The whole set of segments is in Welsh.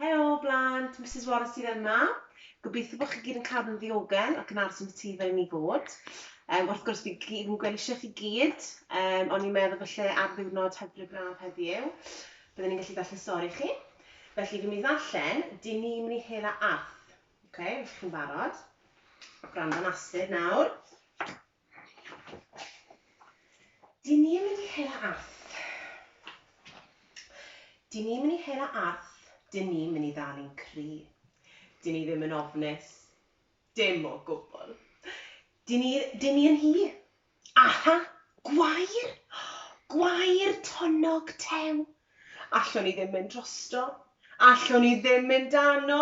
Helo blant, Misus Warren sydd yma. Gobeithio bod chi gyd yn cadw'n ddiogel ac yn aros yn y tŷ fel ni fod. Um, wrth gwrs, fi gyd yn gweld eisiau chi gyd, um, ond i'n meddwl felly ar ddiwrnod hyfryd braf heddiw, byddwn ni'n gallu ddarllen stori chi. Felly, fi'n mynd i ddarllen, dyn ni'n mynd i hela arth. Oce, okay, felly chi'n barod? Gwrando'n astud nawr. Dyn ni yn mynd i hela Arth. Dyn ni mynd i hela Arth, dyn ni mynd i ddal i'n cri. Dyn ni ddim yn ofnus, dim o gwbl. Dyn ni, dyn ni yn hi. Aha! Gwair! Gwair tonnog tew! Allwn ni ddim mynd drosto. Allwn ni ddim mynd dano.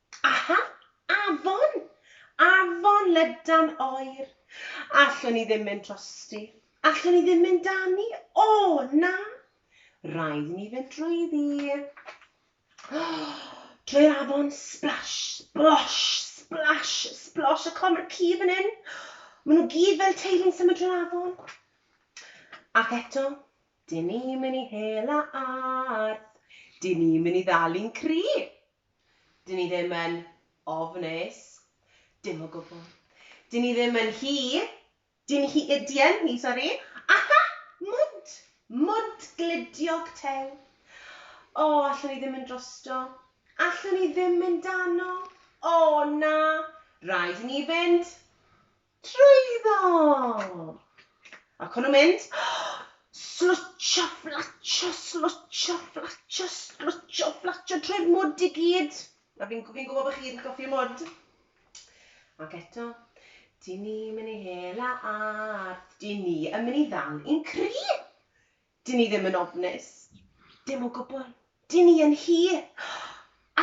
Aha! Afon! Afon lydan oer! Allwn i ddim mynd drosti. Allwn i ddim mynd dani. O, na! Rhaid i ni fynd drwyddi. Drwy'r afon, splash, splosh, splash, splosh. A clod, mae'r ci fan hyn. Maen nhw gyd fel teulu'n symud drwy'r afon. Ac eto, dyn ni'n mynd i hela arth. Dyn ni'n mynd i ddal i'n cri. Dyn ni ddim yn ofnus. Dim o gwbl. Dyn ni ddim yn hi. Dyn hi, yy, dien hi, sori. Aha! Mwnt! Mwnt glidiog tew. O, allwn i ddim mynd drosto. Allwn i ddim mynd dano. O, na! Rhaid i ni fynd. Trwyddo! Ac o'n nhw'n mynd, slwtsio, fflatsio, slwtsio, fflatsio, slwtsio, fflatsio trwy'r mwd i gyd. A fi'n fi'n gwybod bod chi gyd yn cofio mwd. Ac eto, dyn ni'n mynd i hela ardd, dyn ni yn mynd i ddal i'n cri! Dyn ni ddim yn ofnus. Dim o gwbl. Dyn ni yn hi.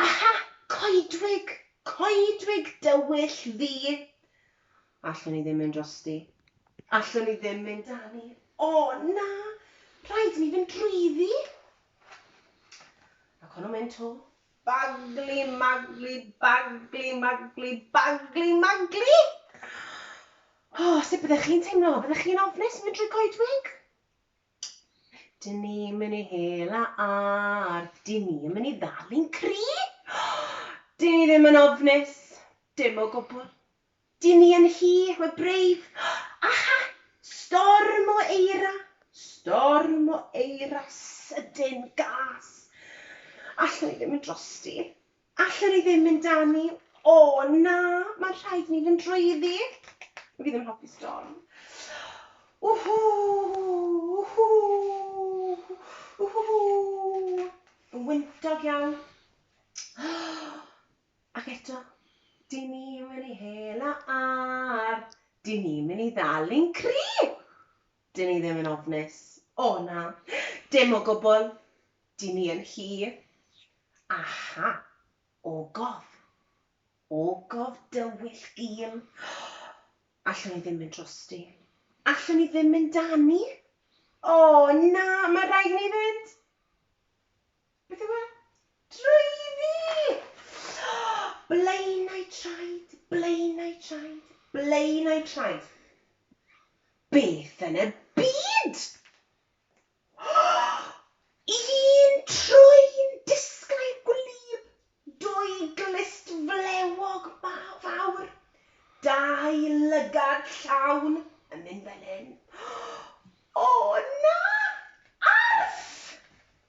Aha! Coedwig! Coedwig dywyll fi! Allwn i ddim mynd drosti. Allwn i ddim mynd â ni. O, na! Rhaid i ni fynd drwyddi! Ac o'n nhw'n mynd 'to. Bagli, magli, bagli, magli, bagli, magli! O, sut byddech chi'n teimlo? Fyddech chi'n ofnus yn mynd drwy goedwig? Dyn ni mynd i hel a ar. Dyn ni yn mynd i ddal i'n cri. Dyn ni ddim yn ofnus. Dim o gwbl. Dyn ni yn hi, we're brave. Aha! Storm o eira. Storm o eira sydyn gas. Allwn i ddim yn drosti. Allen i ddim mynd â ni. O, na, mae'n rhaid i ni fynd drwyddi. Dw i ddim yn hoffi storm. Whoo! Whoo! Whoo! Yn wyntog iawn. Ac eto, dyn ni'n mynd i hela ar. Dyn ni'n mynd i ddal i'n cri! Dyn ni ddim yn ofnus. O na. Dim o gwbl. Dyn ni yn hi. Aha. Ogof. Ogof dywyll gul. Allwn i ddim mynd drosti. Allwn i ddim mynd â ni. O na, mae rhaid i ni fynd. Beth yw e? Draeiddi! Blaenau traed, blaenau traed, blaenau traed. Beth yn y byd! Un troi'n disglair gwlyb, dwy glust flewog fawr, dau lygad llawn yn mynd fel hyn. O na! Arff!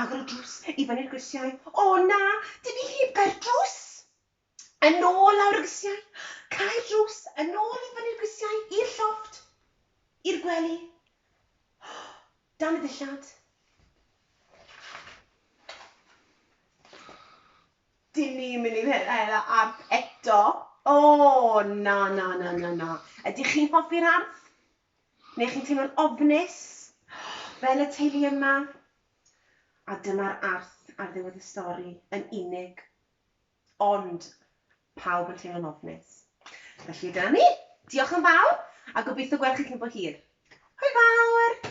Agor y drws i fyny'r grisiau. O na! Dw i heb gau'r drws! Yn ôl lawr y grisiau. Cau'r drws, yn ôl i fyny'r grisiau, i'r llofft, i'r gwely, dan y dillad. Dyn ni'n mynd i'r hela arth eto. O na, na, na, na, na. Ydych chi'n hoffi'r arth? Neu chi'n teimlo'n ofnus, fel y teulu yma? A dyma'r arth ar ddiwedd y stori, yn unig. Ond, pawb yn teimlo'n ofnus. Felly, dyna ni. Diolch yn fawr, a gobeithio gweld chi cyn bo hir. Hwyl fawr!